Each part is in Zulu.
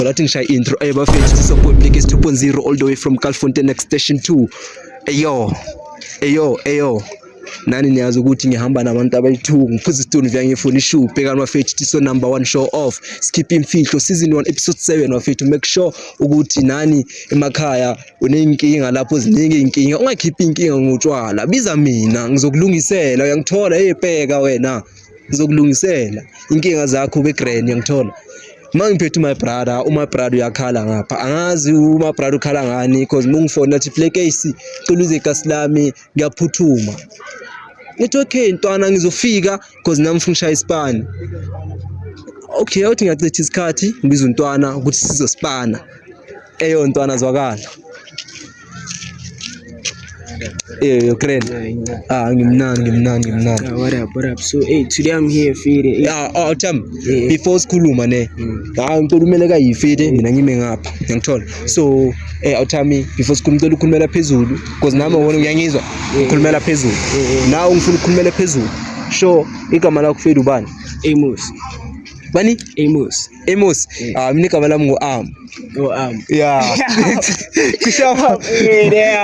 Ngalathi ngishaya intro ayo bafethu support like 2.0 all the way from Calfontein next station 2. Eyo. Eyo, eyo. Nani niyazi ukuthi ngihamba nabantu abayi-2 ngiphuza isituni vya ngifuna ishow bhekani bafethu tiso number 1 show off skip imfihlo season 1 episode 7 bafethu make sure ukuthi nani emakhaya uneyinkinga lapho ziningi izinkinga ungakhiphi inkinga ngotshwala biza mina ngizokulungisela uyangithola hey bheka wena ngizokulungisela inkinga zakho kwi-grand yangithola uma ngiphethe umy brother umy brother uyakhala ngapha angazi umy brother ukhala ngani because uma ungifonela thi play case cela uze igasi lami ngiyaphuthuma ngithi okay ntwana ngizofika because nami ngifuna ushaya isipani okay uthi ngiyachitha isikhathi ngibiza untwana ukuthi sizosipana Eyo ntwana zwakala. Eyo Ukraine. Ah, ngimnani ngimnani ngimnani. Yeah, what up, what up? So, hey, today I'm here feed. Hey. Yeah, oh, Tam. Yeah. Before sikhuluma ne. Mm. Ah, ngicela umele ka yifide mina ngime ngapha. Ngiyangithola. So, eh awuthami before sikhuluma ngicela ukhulumela phezulu because nami wona uyangizwa. Ukhulumela phezulu. Nawe ngifuna ukukhulumela phezulu. Sure, igama lakho feed ubani? Amos. Bani? Amos. Amos, mm. ah, mimi kama lamu ngo am. Ngo am. Yeah. Kushafa.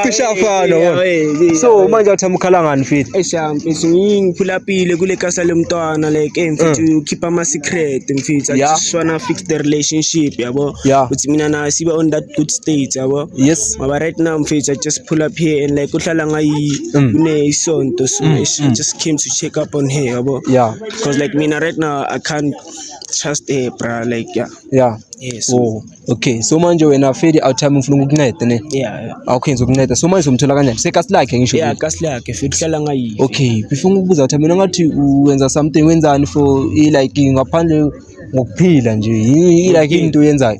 Kushafa no. So manje uthamukhala ngani fit? Esha mfethu ngiphula pile kule kasa lomntwana like eh mfethu mm. ukhipha ama secret mfethu akishwana fix the relationship yabo. Uthi mina na siba on that good state yabo. Yes. Maba right now mfethu I just pull up here and like uhlala ngayi mm. kune isonto so I just came to check up on her yabo. Yeah. Because like mina right now I can't just a bra like yeah yeah yes oh okay so manje wena feli out time ufuna ukunceda ne yeah awukhenza ukunceda so manje umthola kanjani sekasi lakhe ngisho yeah kasi lakhe feli hlala ngayi okay befuna ukubuza out time ngathi uwenza something wenzani for like ngaphandle ngokuphila nje yini like into yenzayo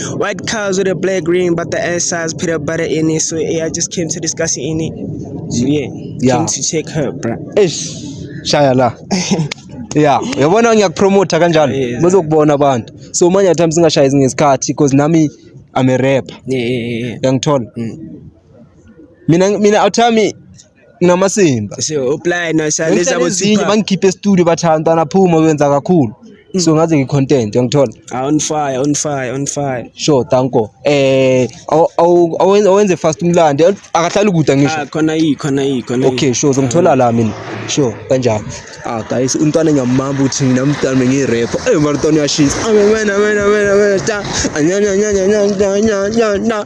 White cows with a black ring, but the ass has peanut butter in it. So yeah, I just came to discuss it in it. Yeah, Yeah. came to check her, bro. eish shaya la ya yabona ngiyakupromotha kanjalo Yes. bazokubona abantu so manje at times singashayi ngesikhathi because nami i'm a rapper Yeah, yeah, yeah, yeah. uyangithola Mm. mina mina awuthami nginamasimba ngihlalezinye bangikhiphe estudio bathi hayi mntwana phuma uyenza kakhulu mm. so ngaze ngicontent yangithola ah, on fire on fire on fire sure tanko eh awenze fast umlandi akahlali kude ngisho ah, khona yi khona yi khona okay sure zongithola la mina sure kanjani ah guys umntwana ngiyamamba ukuthi mina mntwana bengiyirapper eh mara mntwana uyashisa amen amen amen amen ta anyanya anyanya anyanya anyanya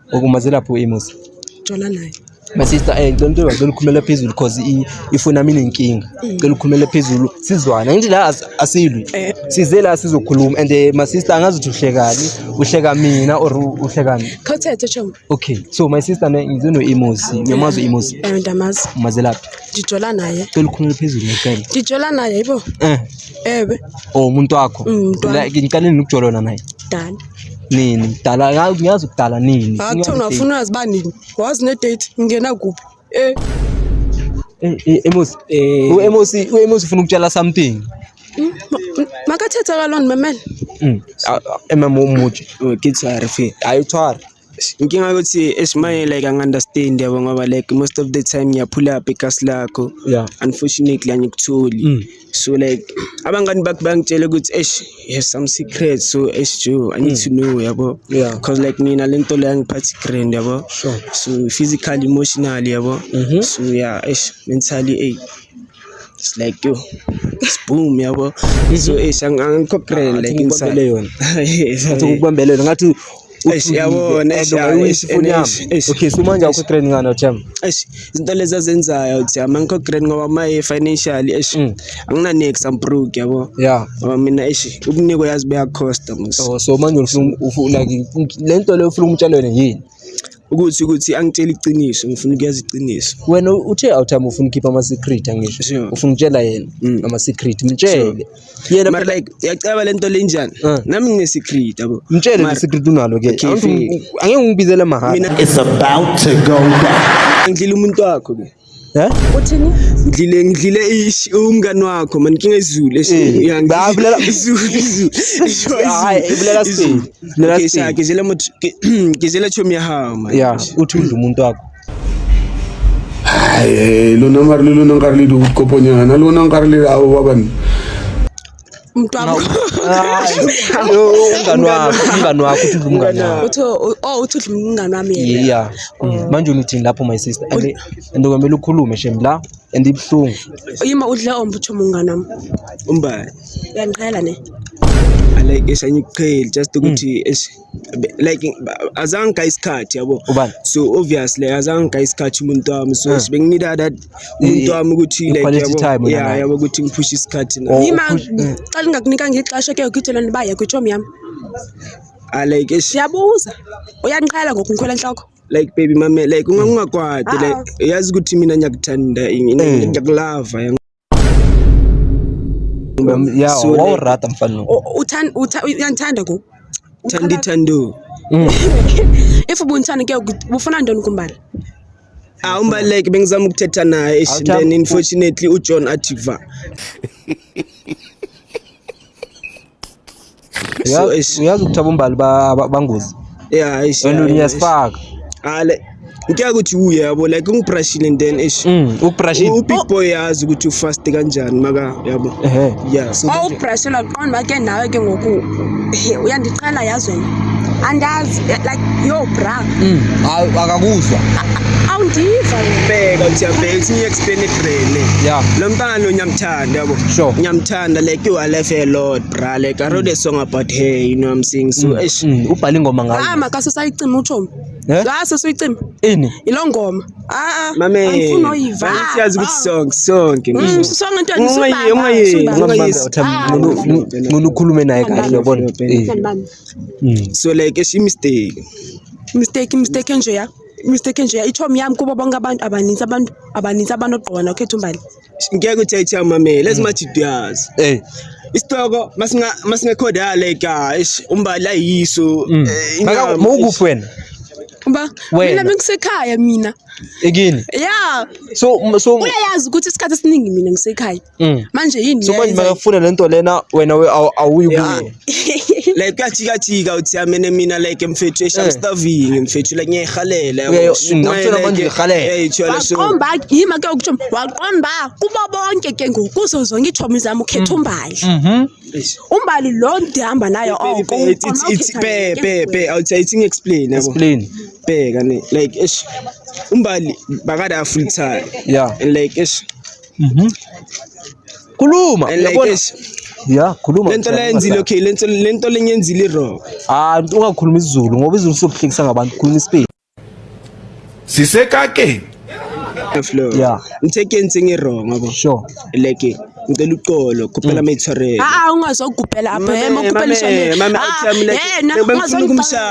Ukuma zelapho imusa. Jola naye. My sister eh ngicela into ngicela ukhulumela phezulu cause i- ifoni yami inenkinga. Ngicela ukhulumela phezulu sizwana. Ngithi la as- asilwi. Eh. Size la sizokhuluma and eh, my sister angazi ukuthi uhlekani, uhleka mina or u- uhlekani. Khawuthethe choma. Okay. So my sister ne ngize no Imosi. Ngiyamazi uImosi. Eh ndamazi. Umazelaphi? Ndijola naye. Ngicela ukhulumela phezulu ngicela. Ndijola naye yibo. Eh. Ewe. Oh umuntu wakho. Mm, umuntu wami. Like ngiqale nokujolona naye. Dala. nini kudala ngazi ngiyazi kudala nini akuthiwa ngafuna uyazi uba nini wazi ne-date ngingena kuphi eh eh, eh emosi eh. u-emosi u-emosi ufuna ukutshela something hmm? makathetha kalona mamela hmm. emama umutshe oh, ke tshware fe ayithware inkinga ukuthi esimanye like angi-understand yabo ngoba like most of the time ngiyaphula up igasi lakho yeah unfortunately angikutholi mm. so like abangani bakho bangitshela ukuthi esh you have some secret so esh jo i need mm. to know yabo yeah because like mina le nto leyo angiphathi grand yabo sure so physical emotional yabo mm -hmm. so yeah esh mentally ey it's like yo it's boom yabo so esh angikho grand like inside yona ngathi ukubambelele ngathi okay so manje awukho grand ngani otham eish izinto lezi azenzayo otham angikho grand ngoba maye financial eish mm. angina next am broke yabo yeah ngoba mina eish ukuniko yazi beya cost mos oh, so manje ufuna ufuna like lento leyo ufuna umtshalo wena yini ukuthi ukuthi angitshela iqiniso ngifuna ukuyazi iqiniso wena uthe awuthami ufuna ukhipha ama secret angisho ufuna ukutshela yena mm. ama secret mtshele yena but like yacaba lento lenjani uh. nami ngine secret yabo mtshele le secret unalo ke angeke ungibizele mahhala it's about to go down ngidlile umuntu wakho ke Eh? Uthini? Ngidlile ngidlile ish umngani wakho man inkinga izulu eh, esiyabulela izulu izulu. Hayi ibulela siphi? Bulela siphi? Ngizela ngizela chomi yahawu man. Yeah, uthi udla umuntu wakho. Ay, lo nang karli, lo nang karli, dugot ko po niya. Ano nang karli, awawan. umngani wakho umngani wakho uthi udla umngani wakho uthi oh uthi udla umngani wami yena yeah mm. manje unithini lapho my sister and and kwamele ukhulume shem la and ibuhlungu yima udla ombutsho umngani wami umbani uyangiqhela ne alike esanye ukuqhela just ukuthi mm. like azange ka isikhathi yabo ubani so obviously azange ka isikhathi umuntu wami so sibe nginida that umuntu wami ukuthi like yabo yeah yabo ukuthi ngiphushe isikhathi na yima xa lingakunika ngixesha ke ukuthola ndibaye kwitshomi yami ah like siyabuza uyanqala ngoku ngikhwela enhloko like baby mame like ungangakwadi like uyazi ukuthi mina ngiyakuthanda ngiyakulava ya wawurata mfana lo uyanithanda ku thandi thando mm. if ubunithanda ke bufuna ntoni kumbala awumbaleke bengizama ukuthetha naye then unfortunately ujohn ativa uyazi ukuthi abombali bangozi and uyasifaka ngicela ukuthi uye yabo like ungibrushile and then ish mm, ukubrushile ubig oh. boy yazi ukuthi ufast kanjani maka yabo ehe yeah so oh, ubrushela qonda bake nawe ke ngoku uyandiqala yazi wena andazi like yo bra mm, akakuzwa awundiva bheka uthi yabheka uthi ngiye explain ebrele yeah lo mntana onyamthanda yabo sure nyamthanda And like you are left a lot, bra. Like I wrote a song about her, you know what I'm saying? So, mm. ish. Mm. Ubhale ingoma ngayo. Ah, makase sayicima uThom. Eh? La sesuyicima. Ini? Ilo ngoma. Ah, ah. Mame. Angifuni oyiva. Manje siyazi ukuthi ah. song sonke. Mm, song into angisubanga. Ungayi, ungayi. Ah. Ngona ukhulume naye kahle, yabona. Mm. So like ish mistake. Mistake, mistake nje ya. Mistake nje ya. Ithom yami kubo bonke abantu abaninzi abantu abaninzi abantu ogqoka nokhetha umbali. ngeke uthethe amamele ezimajidu yazo Eh. isitoko masinga masingekhodale ka ish umbala yiso Mm. eh, Maka inyama, mawukuphi ish. wena? Ba, Wena. mina bengisekhaya mina. Ekini. Yeah, So m- so uyayazi ukuthi isikhathi esiningi mina ngisekhaya. mm. Manje yini? So manje ngiyayenzani? makafuna lento lena wena we- awu- awuyi Yeah. kuye. like kuyajikajika uthi amene mina like mfethu esha I'm eh. starving mfethu like ngiyayirhalela waqomba yima ke ukutho waqomba kubo bonke ke ngoku kuzo zonke iitshomi zam ukhetha mm. umbali mhm. umbali lo ndihamba nayo oko pepepe awuthi ngi-explain yabo bheka ne like esh umbali bakade afull time yeah and like esh mhm. Khuluma. And like Yabona? eish, ya khuluma lento mfana, leyenzile ungahlali. okay lento lento lenyenzile wrong. hayi mntu ungakhuluma isizulu ngoba izulu sizokuhlekisa ngabantu khuluma isipedi sisekakeni Flow. Yeah. Ngithe ke ntseng e wrong yabo. sure Like ngicela uqolo Mm. khuphela mayitshwarele. Ah, ungazogubhela apha. Mame, Hey, mokubhela mame, ishane. mame, Ah, awuthi yami like- yena, bengifuna ungazongibhala. ukumshaya.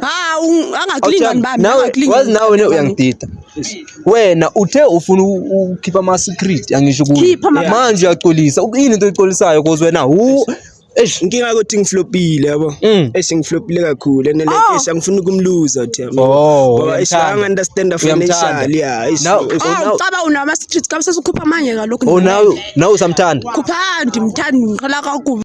ha angaklinga nibambe wazi nawe wena uyangidida wena uthe ufuna ukhipha ama secret angisho kuwe manje uyacolisa yini into oyicolisayo cause wena hu Eish inkinga ukuthi ngiflopile yabo. Mm. Eish ngiflopile kakhulu and like oh. eish angifuni ukumluza uthi yabo. Oh, ngoba eish anga understand financially yeah. Eish. Now ucaba oh, unama streets kabisa ukhupha manje ngalokho. Oh now now usamthanda. Khupha ndimthanda ngiqala kakubi.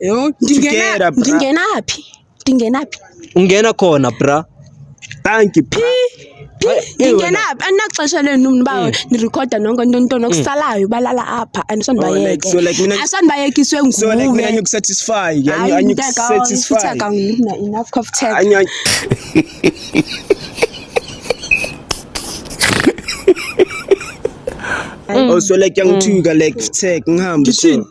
Yo, ndingena Together, bra. ndingena phi? Ndingena phi? Ungena khona bra. Thank you. Phi? Phi? Ay, eh, Ndingena wena. phi? Andinaxesha lenu mntu bawo nirecorda nonke into into nokusalayo balala apha Oh, like, andisonibayeke. so like mina- Asonibayekiswe nguwe. So like mina ngikusatisfy, ngiya- Hayi, ngiya- mntaka, ngikusatisfy. ufutheka ngiphi na enough cough tag. Angiya- Oh, so like yangithuka like tech ngihambe. Ngithini? so.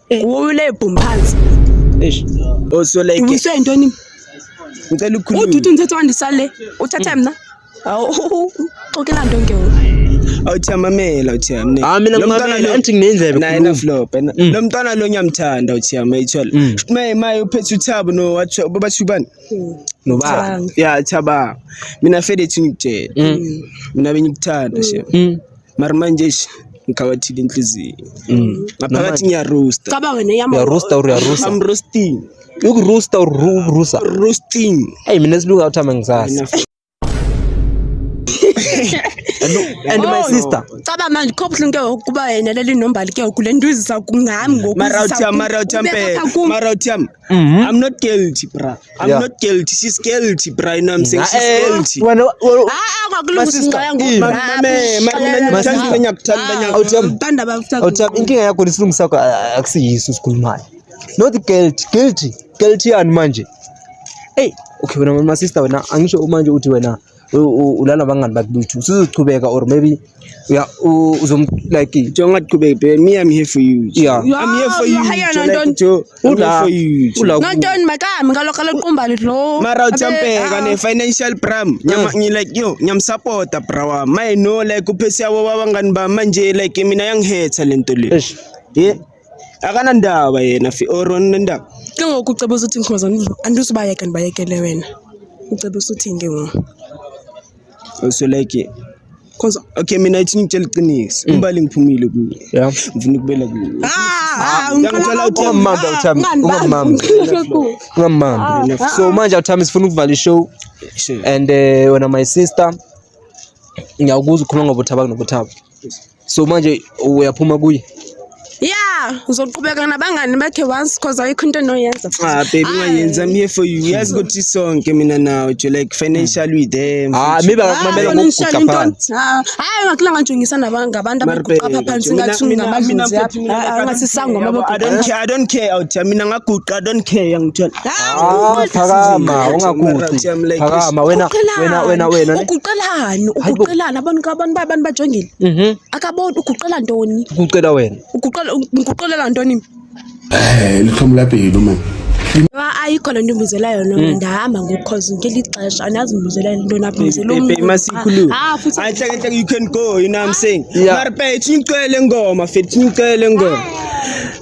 Uwule boom phansi. Eish. Osoleke. Uyiswe intoni? Ngicela ukukhuluma. Uduthi umthetho wandisale. Uthathe mina. Awu xokela nto ngewu. Awuthi amamela uthi yami. Ah mina ngimamela anti nginendlebe. Naye na flop. Lo mm. mntwana lo ngiyamthanda uthi yami ayithola. Mm. Maye maye uphethe uthabo no wathi babathi ubani? Mm. Nobaba. Yeah thaba. Mina fede thingitshela. Mina bengikuthanda she. mara manje eish ngikhawathile inhliziyo Mm. ngaphakathi ngiyarosta Caba wena yama. uyarusta or uyarusa i'm roasting ukurusta or ru- rusa roasting eyi mina silunga uthama ngisazi and my Oh. sister Caba manje kho buhlungu ke ngoku kuba yena leli nombali ke ngoku le nto izisa kungami ngoku. mara izisa uthiam ku- mara uthiam ubeka phe ku- mara uthiam Mhm. i'm not guilty bra I'm yeah. not guilty. She's guilty, Brian. I'm saying she's eh, guilty. Wena kwakulungisincaya ngokuthanda bafutha. Inkinga yakho lisilungisa kwa akusiyiso sikhulumayo. Not guilty, guilty. Guilty yani manje. Hey, okay wena mama sister wena angisho manje uthi wena ulala bangani bakuthi usuzochubeka or maybe yeah uzom like njengoba kuqhubeka babe me i'm here for you yeah i'm here for you hayana ntonto ula ula ntontoni makami ngalokho loqumbali lo mara ujampeka ah. ne financial pram nyama ngi like yo nyam support bra my no like uphesi yabo babangani ba manje like mina yangihetha lento le yeah akanandaba yena or unendaba ke ngoku ucebisa uthi nkhoza andizubayeka ndibayekele wena ucebisa uthini ke ngoku so like cause okay mina ithi ngitshela iqiniso mm. imbali ngiphumile kuyo ngifuna ukubela kuyo ngiyangitshela uthi ungamambi awuthami ungamambi ungamambi so manje awuthami sifuna ukuvala ishow and eh, wena my sister ngiyawukuza ukhuluma ngobuthaba kunobuthaba So manje uyaphuma kuye? Yeah, uzoqhubeka nabangani bakhe once cause ayikho into enoyenza. Ah baby ungayenza I'm here for you. Yazi ukuthi sonke mina nawe jo like financially with them. Ah maybe akumamela ngokuguqa phansi. Ah, hayi ngakula nganjongisa nabantu abantu abaguqa pha phansi ngathi ngamadlozi yaphi. Ah, ngathi sangoma abaguqa. I don't care, I don't care out. Mina ngaguqa, I don't care ngithola. Ah, phakama ungaguqi. Phakama wena wena wena wena. Uguqelani? Uguqelani? yabona ukabona uba abantu bajongile Mhm. akaboni uguqela ntoni Kucela wena. uguqela ngiguqelela ntoni Eh, lithoma lapilo man. Wa- ayikho le nto umbuzela yona Mm. ndihamba ngokhozi ngeli xesha anazi umbuzela le nto nabuzela Baby, baby, masikhulume. Ah, futhi I think, I think you can go, you know what I'm saying? Yeah. Mara, babe, it's ngicela ingoma, fit, ngicela ingoma.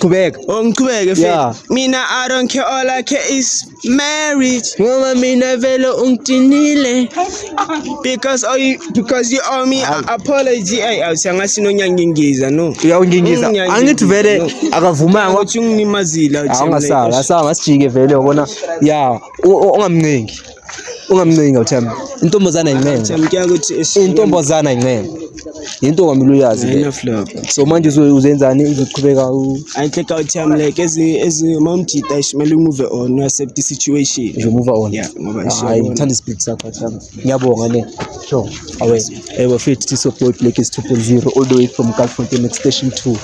Qhubeka. Oh ngiqhubeke mfethu. Yeah. Mina I don't care all I care is marriage. Ngoba mina vele ungidinile. Because oh you, because you owe me a apology. Ay awusangathi nonyangingiza no. Uyawungingiza. Unyangingiza, Angithi vele no. akavumanga. Ukuthi unginimazile. Awungasala, asanga sijike vele yabona. Yeah, u- u- ungamncengi. ungamncenga uthemba intombazana incenga intombazana incenga yinto ongamele uyazi le so manje uzenzani uzoqhubeka ayinhleka uthemba like uma umjita ishimele umuve on uaccept i-situation nje umuva on hayi ngithanda isipiti sakho themba ngiyabonga ne sure awe ewe fithi so boy black is 2.0 all the way from galfontein station 2